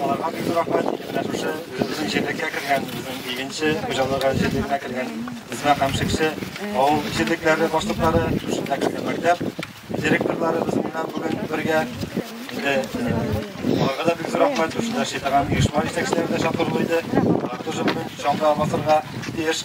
Аларга бик зур рәхмәт. Менә шушы безнең җирлеккә кергән, безнең игенче хуҗалыгы җирлеккә кергән Үзмә һәм Шекше авыл җирлекләре башлыклары, шушында кергән мәктәп директорлары безнең белән бүген бергә. Инде аларга да бик зур рәхмәт. Шушында шитаган оешма җитәкчеләре дә чакырулы иде. Алар тоже бүген чаңга басырга тиеш.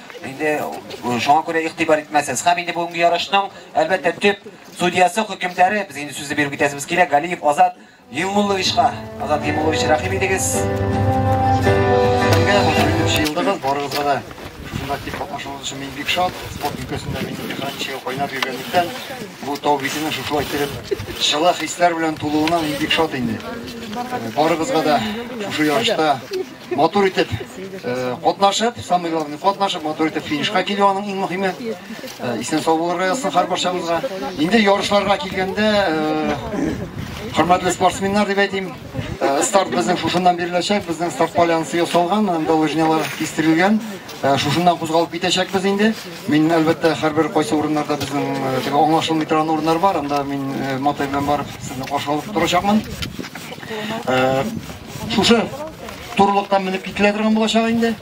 Инде шуңа күрә игътибар итмәсез. Һәм инде бүгенге ярышның, әлбәттә, төп судьясы, хөкемдары, без инде сүзне биреп китәсебез килә, Галиев Азат Юмулловичка. Азат Юмуллович, рәхим итегез. Елдыгыз, барыгызга да шунда актив катнашуыңыз өчен мин бик шат. Спорт өлкәсендә мин икран чигә кайнап йөргәнлектән, бу тау битенең шушылай килеп, чылы хисләр белән тулуына мин бик шат инде. Барыгызга да шушы ярышта матур итеп катнашып, самый главный катнашып, матур итеп финишка килү аның иң мөһиме. Исән сау булырга язсын һәр барчамызга. Инде ярышларга килгәндә, хөрмәтле спортсменнар дип әйтим, старт безнең шушыннан биреләчәк, безнең старт полянасы ясалган, анда лыжнялар кистерелгән. Шушыннан кузгалып китәчәкбез инде. Мин әлбәттә һәрбер кайсы урыннарда безнең теге аңлашылмый торган урыннар бар, анда мин матай белән барып сезне каршы алып торачакмын. Шушы турылыкка менеп кителә торган булачак инде.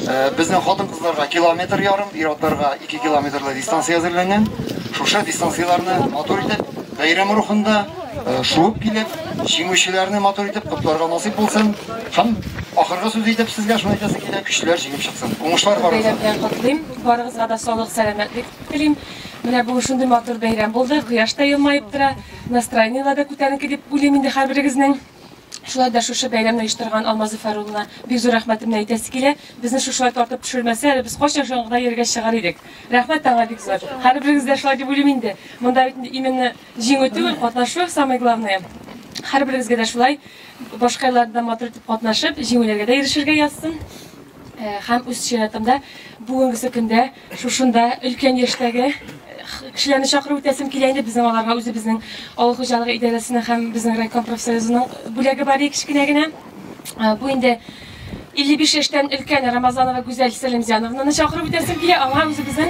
Э, Безнең хатын-кызларга километр ярым, ир-атларга 2 километрлы дистанция әзерләнгән. Шушы дистанцияләрне матур итеп, бәйрәм рухында э, шуып килеп, җиңүчеләрне матур итеп котларга насыйп булсын. Һәм ахыргы сүз итеп сезгә шуны әйтәсе килә, көчләр җиңеп чыксын. Уңышлар барыгызга. Бәйрәм белән котлыйм. Барыгызга да саулык, сәламәтлек телим. Менә бу шундый матур бәйрәм булды. Кояш та елмаеп тора. Настроениеләр дә күтәренке дип уйлыйм инде һәрберегезнең. Шулай да шушы бәйрәмне оештырган Алмазов Фәруллина бик зур рәхмәтемне әйтәсе килә. Безне шушылай тартып төшермәсә, әле без кайчан чаңгыда йөргәч чыгар идек. Рәхмәт тә аңа бик зур. Һәрберегез дә шулай дип уйлыйм инде. Монда бит именно җиңү түгел, катнашу самое главное. Һәрберегезгә дә шулай башка елларда матур итеп катнашып, җиңүләргә дә ирешергә язсын. Һәм үз чиратымда бүгенгесе көндә Шушында өлкән яшьтәге кешеләрне чакырып үтәсем килә инде безнең аларга үзебезнең авыл хуҗалыгы идарәсенең һәм безнең райком профсоюзының бүләге бар иде кечкенә генә бу инде 55 яшьтән өлкән рамазанова гүзәл сәлимҗановнаны чакырып үтәсем килә аңа үзебезнең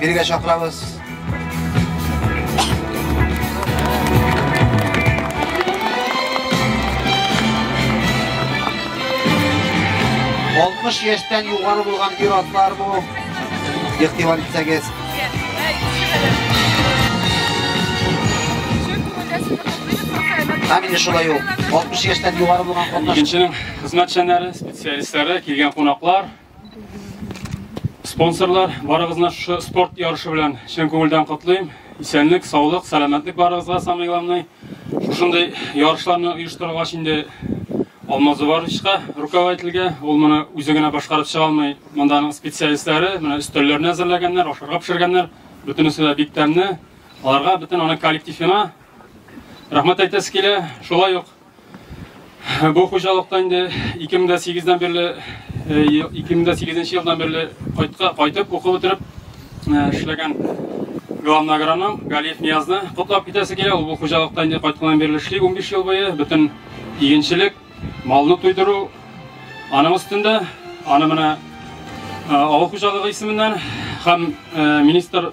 Биргә чакырабыз. Алтмыш яшьтән югары булган ир-атлар бу. Ихтимал итсәгез. Әмин шулай ул. 60 яшьтән югары булган катнаш. Икенченең хезмәтчәннәре, специалистлары, килгән кунаклар, Спонсорлар, барыгызны шушы спорт ярышы белән чын күңелдән котлыйм. Исәнлек, саулык, сәламәтлек барыгызга самый главный. Шушындый ярышларны оештыргач инде Алмаз Уварычка руководительгә, ул моны үзе генә башкарып чыга алмый. Монда аның специалистлары, менә өстәлләрне әзерләгәннәр, ашарга пешергәннәр. Бөтенесе дә бик тәмле. Аларга бөтен аның коллективына рәхмәт әйтәсе килә. Шулай ук Бу хуҗалыкта инде 2008-дән бирле 2008 елдан бирле кайтка кайтып уку бетереп эшләгән главный агроном Галиев Ниязны котлап китәсе килә. Ул бу хуҗалыкта инде кайтканнан бирле эшли 15 ел буе. Бөтен игенчелек, малны туйдыру аның өстендә. Аны менә авыл хуҗалыгы исеменнән һәм министр